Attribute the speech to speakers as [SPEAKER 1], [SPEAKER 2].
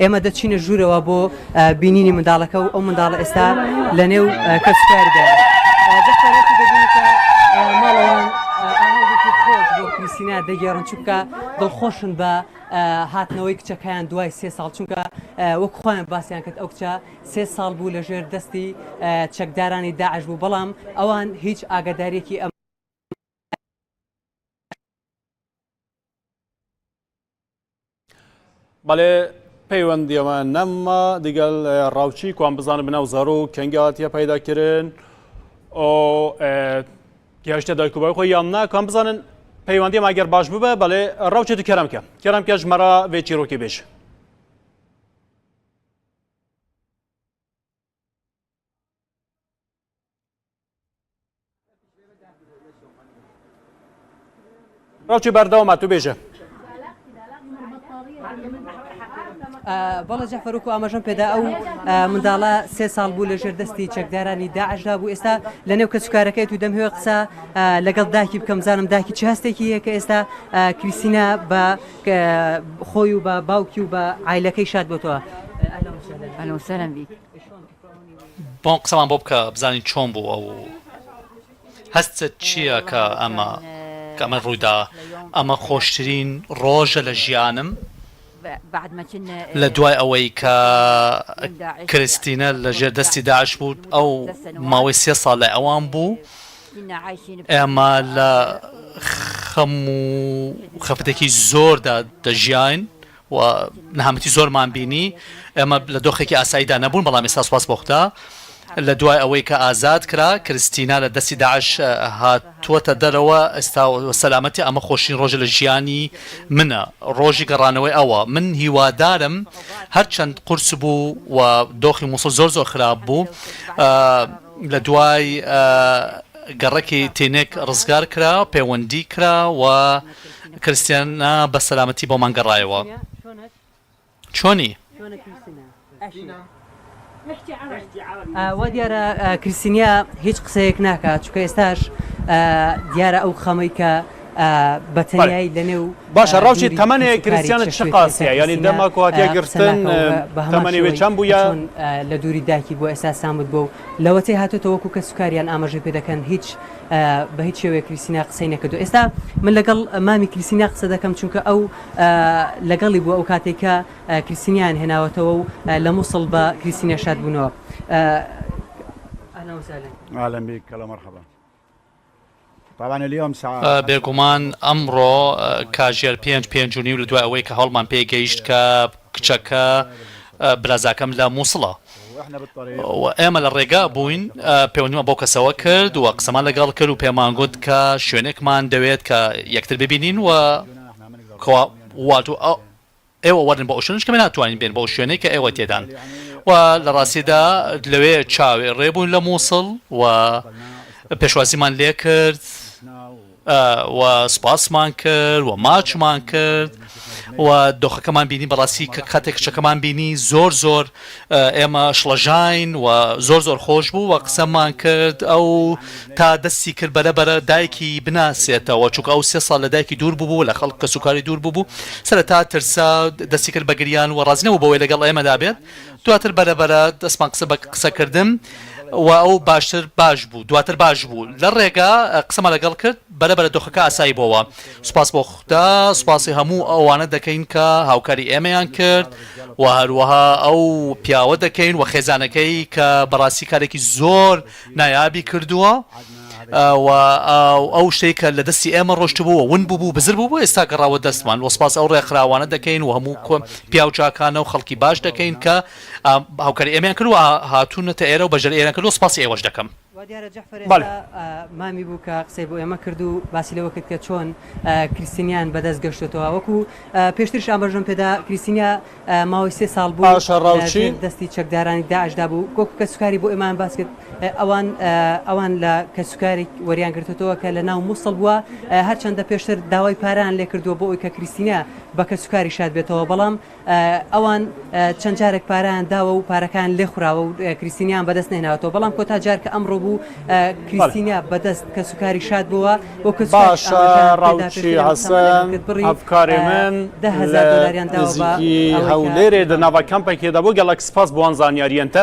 [SPEAKER 1] ئێمە دەچینە ژوورەوە بۆ بینینی منداڵەکە و ئەو منداڵە ئێستا لە نێو کەسکاردا کریسینا دەگەێڕن چونکە دڵخۆشن بە هاتنەوەی کچەکەیان دوای سێ ساڵ چونکە وەک خۆیان باسییان کرد ئەو کچە سێ ساڵ بوو لە ژێر دەستی چەکدارانی داعش بوو بەڵام ئەوان هیچ ئاگادارێکی ئەم
[SPEAKER 2] بەڵێ پەیوەندیەوە نەممە دیگەل ڕاوچی کوان بزانە بناو زەڕ و کەنگاتە پەیداکردن گەشتە دایکوبای خۆی یان ناکەم بزانن پەیوەندی ماگەر باش ببە بەڵێ ڕاوچێت کەرەمکە کەرم کەش مەرا بێ چیرۆکی بێژ ڕوچی بەردەوە ماتو بێژە
[SPEAKER 1] بەڵە جەفەرک و ئاماژەم پێدا ئەو منداڵە سێ ساڵ بوو لە ژێر دەستی چەکدارانی داعشدا بوو ئێستا لە نێو کەسوکارەکەی تو دەمهوێ قسە لەگەڵ داکی بکەم زانم داکی چ هەستێکی هەیە کە ئێستا کریسینا بە خۆی و بە باوکی و بە ئایلەکەی شاد بۆتەوە. اهلا وسهلا بيك
[SPEAKER 3] بۆم قسەڵان بۆ بکە بزانین چۆن بوو ئەو هەستت چییە کە ئەمە کەمە ڕوویدا ئەمە خۆشترین ڕۆژە لە ژیانم لە دوای ئەوەی کە کرستینە لە ژێر دەستی داعش بوو ئەو ماوەی سێ ساڵ لای ئەوان بوو ئێمە لە خەم و خەفتێکی زۆردا دەژیاین و نەهامەتی زۆرمان بینی ئێمە لە دۆخێکی ئاساییدا نەبوون، بەڵام ئێستا سوپاس بۆ خودا لە دوای ئەوەی کە ئازاد کرا، کریستینا لە دەستی داعش هاتووەتە دەرەوە ئێستا سەلامەتە، ئەمە خۆشترین ڕۆژە لە ژیانی منە، ڕۆژی گەڕانەوەی ئەوە، من هیوادارم هەرچەند قورس بوو و دۆخی موسڵ زۆر زۆر خراپ بوو لە دوای گەڕەکی تینک ڕزگار کرا، پێوەندی کرا و. کریستینا بە سەلامەتی بۆمان گەڕایەوە. چۆنی؟
[SPEAKER 1] وا دیارە کریستینا هیچ قسەیەک ناکات، چونکە ئێستاش دیارە ئەو خەمەی کە بە تەنیایی لەنێو باشە ڕەوشی تەمەنێ
[SPEAKER 2] کریستینا چ قاسیە یانی دەمەک و هاتیە گرتن بە هەمانی وێ چەند بووە لە دووری
[SPEAKER 1] داکی بۆ ئێستا سامت بۆ و لەوەتەی هاتوتە وەکو کە سوکاریان ئاماژەی پێ دەکەن هیچ بە هیچ شێوەیەک کریستینا قسەی نەکردووە ئێستا من لەگەڵ مامی کریستینا قسە دەکەم چونکە ئەو لەگەڵی بووە ئەو کاتێک کە کریستینیان هێناوەتەوە و لە مووسڵ بە کریستینە شاد بوونەوە
[SPEAKER 4] بێگومان
[SPEAKER 3] ئەمڕۆ کاژێر پێنج پێنج و نیو لە دوای ئەوەی کە هەوڵمان پێی گەیشت کە کچەکە برازاکەم لە مووسڵە و ئێمە لە ڕێگا بووین پەیوەندیمان بەو کەسەوە کرد و قسەمان لەگەڵ کرد و پێمان گوت کە شوێنێکمان دەوێت کە یەکتر ببینین و کوا وات و ئێوە وەرن بۆ ئەو شوێنەش کە ئێمە ناتوانین بێین بۆ ئەو شوێنەی کە ئێوە تێدان و لە ڕاستیدا لەوێ چاوێ ڕێ بووین لە مووسڵ و پێشوازیمان لێ کرد. و سوپاسمان کرد و ماچمان کرد و دۆخەکەمان بینی بەڕاستی کە کاتێک کچەکەمان بینی زۆر زۆر ئێمە شڵەژین و زۆر زۆر خۆش بوو و قسەمان کرد ئەو تا دەستی کرد بەرە بەرە دایکی بناسێتەوە چووکە ئەو سێ ساڵ لە دایکی دوور بوو لە خەڵک کە سوکاری دوور بوو سەر تا ترسا دەستی کرد بە گریان و ڕازنەوە بەوەی لەگەڵ ئێمەدا بێت دواتر بەرە بەرە دەستمان قسە بە قسە کردن و ئەو باشتر باش بوو دواتر باش بوو لە ڕێگا قسەمان لەگەڵ کرد بەرە بەرە دۆخەکە ئاسایی بۆوە سوپاس بۆ خودا سوپاسی هەموو ئەوانە دەکەین کە هاوکاری ئێمەیان کرد و هەروەها ئەو پیاوە دەکەین و خێزانەکەی کە بەڕاستی کارێکی زۆر نایابی کردووە. و ئەو شتەی کە لە دەستی ئێمە ڕۆشتبووە ون بوو بزر بوو بۆ ئێستا گەڕاوە دەستمان وە سپاس ئەو ڕێکخراوانە دەکەین و هەموو کۆ پیاو چاکانە و خەڵکی باش دەکەین کە هاوکاری ئێمەیان کرد و هاتوونەتە ئێرە و بەژەر ئێران کرد و سپاسی ئێوەش دەکەم. وا دیارە جەعفەر
[SPEAKER 1] ئێستا
[SPEAKER 2] مامی بوو
[SPEAKER 1] کە قسەی بۆ ئێمە کرد و باسی لەوە کرد کە چۆن کریستینیان بەدەست گەشتۆتەوە وەکوو پێشتریش ئاماژەم پێدا کریستینیا ماوەی سێ ساڵ بوو ژێر دەستی
[SPEAKER 2] چەکدارانی
[SPEAKER 1] داعشدا بوو وەکو کەسوکاری بۆ ئێمان باس کرد ئەوان ئەوان لە کەسوکارێک وەریان گرتوەوە کە لە ناو مووسڵ بووە هەرچەندە پێشتر داوای پاران لێ کردووە بۆ ئەوی کە کریسینە بە کەسوکاری شاد بێتەوە بەڵام ئەوان چەند جارێک پاران داوە و پارەکان لێ خوراوە و کریسینیان بەدەست نێناوەوە بەڵام کۆتا جارکە ئەمڕۆ بوو کریستینا بەدەست کەسوکاری شاد بۆوە بۆ کەس باشە
[SPEAKER 2] ڕاوچی حەسەن هەڤکارێ من لە نزیکی هەولێرێ دە ناڤە کەمپەکێ دە بۆ گەڵەک سپاس بۆ ئەن زانیاریەنتە.